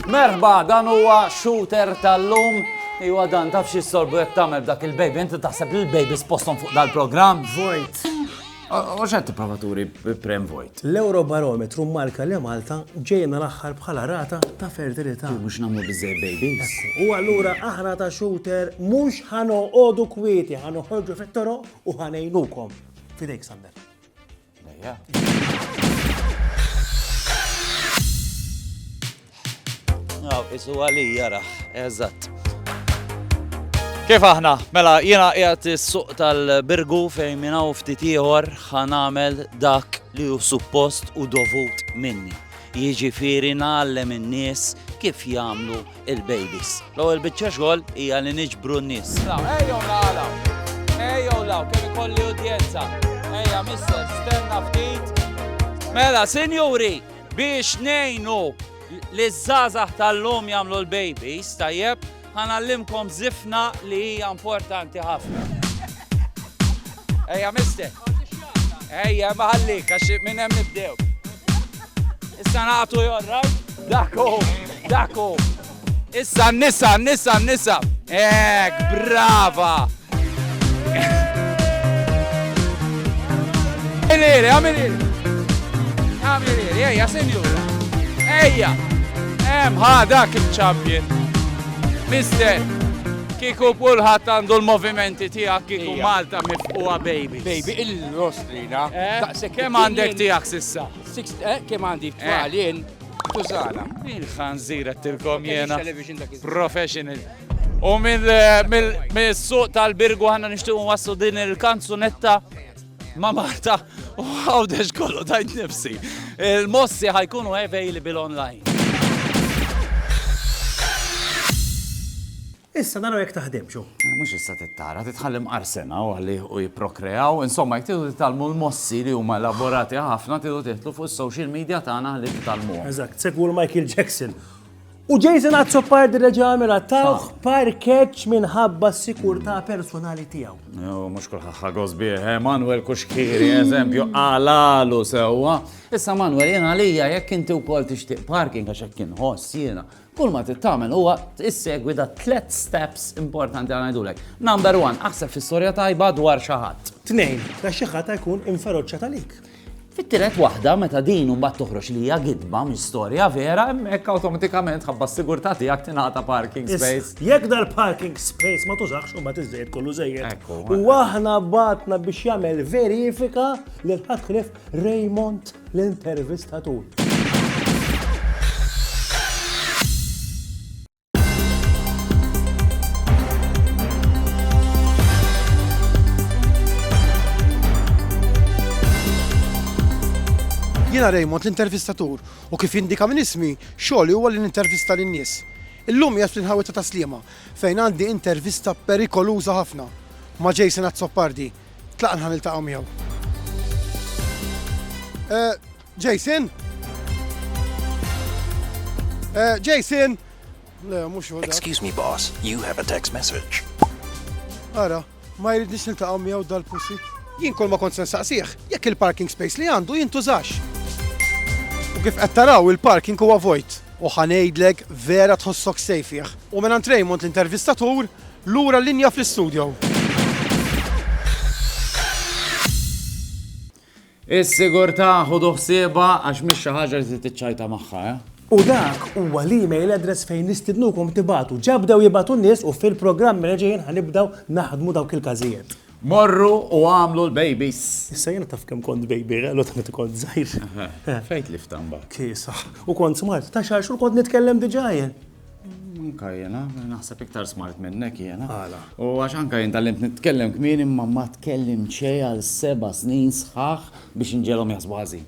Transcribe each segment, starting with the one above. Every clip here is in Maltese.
Merħba, dan huwa shooter tal-lum Iwa dan, taf xie sorbu jek tamel dak il-baby, inti taħseb li l-baby spostom fuq dal-program? Vojt. U x'qed tipprova turi bi Prem Vojt? L-Ewrobarometru mmarka li Malta ġejna l-aħħar bħala rata ta' fertilità. Mhux nagħmlu biżżejjed babies. U allura aħna ta' Shooter mhux ħa noqogħdu kwieti, ħa noħorġu fit-toroq u ħa ngħinukom. Fidejk Sander. Ejja. Aw, isu għalija raħ, eżatt. Kif aħna? Mela, jiena qiegħed is-suq tal-birgu fejn minn hawn ftit ieħor ħanamel dak li hu suppost u dovut minni. Jiġifieri nagħallem in-nies kif jagħmlu il-babies. L-ewwel biċċa xogħol hija li niġbru n-nies. Ejjew nagħlaw. Ejjew law kemm ikolli udjenza. Ejja mister, stenna ftit. Mela, sinjuri, Biex ngħinu liż-żgħażagħ tal-lum jagħmlu l-babies tajjeb, ħa ngħallimkom żifna li hija importanti ħafna. Ejja mister. Ejja ma ħallik għax minn hemm nibdew. Issa nagħtu jorrajt. Daku, daku. Issa n-nisa, n-nisa, n-nisa. Ek, brava. Għamiliri, għamiliri. Għamiliri, ejja, senjura. Ejja. Em, ha, dak il-champion. Mister, kiku pulħat għandu l-movimenti tijak kiku Malta mifqua baby. Baby, il-rostrina. Eh, kem għandek tijak sissa? Eh, kem għandi t-twalin? Tużana. Il-ħanżir għattilkom jena. Professional. U mill-suq tal-birgu għanna nishtiqu wassu din il-kanzunetta ma' Marta u għawdex kollu tajt nifsi. Il-mossi ħajkunu available online. Issa naraw jekk taħdimx, hu. Mhux issa tittara, titħalli mqarsen hawn għalih u jipprokreaw. Insomma, jekk tridu titgħallmu l-mossi li huma elaborati ħafna, tridu tidħlu fuq is-social media tagħna ħalli titgħallmuhom. Eżatt, segwu 'l Michael Jackson. U Jason Azzopardi reġa' għamel għattawh parkeġġ minħabba s-sikurtà personali tiegħu. Jo, mhux kulħadd ħa gost bih, eh, Manuel Kuxkiri, eżempju, għalalu sewwa. Issa Manuel, jien għalija jekk inti wkoll tixtieq parking għax hekk inħoss jiena, Kull ma trid tagħmel huwa tissegwi da tliet steps importanti għal ngħidulek. Number one, aħseb fi storja tajba dwar xi ħadd. Tnejn, ta' xi ħadd jkun inferoċċa talik. Fit-tielet waħda, meta din mbagħad toħroġ li hija gidba minn storja vera, hemmhekk awtomatikament ħabba s-sigurtà tiegħek tingħata parking space. Jekk dal-parking space ma tużax u ma tiżejjed kollu żejjed. U aħna batna biex jagħmel verifika li l-ħadd ħlif Raymond l-intervistatur. Jiena Raymond l-intervistatur u kif indika minn ismi xogħli huwa li nintervista lin-nies. Illum jgħid fl-inħawita ta' Sliema fejn għandi intervista perikoluża ħafna ma' Jason Azzopardi Tlaqna ħa niltaqgħu miegħu. Eh, Jason? Eh, Jason? Le, mhux hu. Excuse me boss, you have a text message. Ara, ma jridniex niltaqgħu miegħu dal-pussy. Jien kol ma kont saqsih, jekk il-parking space li għandu jintużax. U kif qed taraw il-parking huwa vojt. U ħanejdlek vera tħossok sejfih. U minn Raymond l-intervistatur Lura l-linja fl-istudjo. Is-sigurtà ħudu ħsiebha għax mhix xi ħaġa li trid tiċċajta magħha, eh? U dak huwa l-email address fejn nistidnukom tibagħtu. Ġa bdew jibgħatu n-nies u fil-programmi li ġejjin ħa nibdew naħdmu dawk il-każijiet. Morru u għamlu l-babies. Issa jiena taf kemm kont baby, għallu ta' meta kont żgħir. Fejn tlift imbagħad. Kisa. U kont smart, ta' xar xhur kont nitkellem diġà jien. Anka jena, naħseb iktar smart minnek jena. Għala. U għax anka jena tal-lim nitkellem kmin imma ma tkellim xej għal seba snin sħaħ biex nġelom jasbu għazi.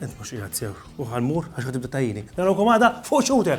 Ent mux iħad sew, u għal-mur għax għatibda tajini. Narawkom għada fuq xute!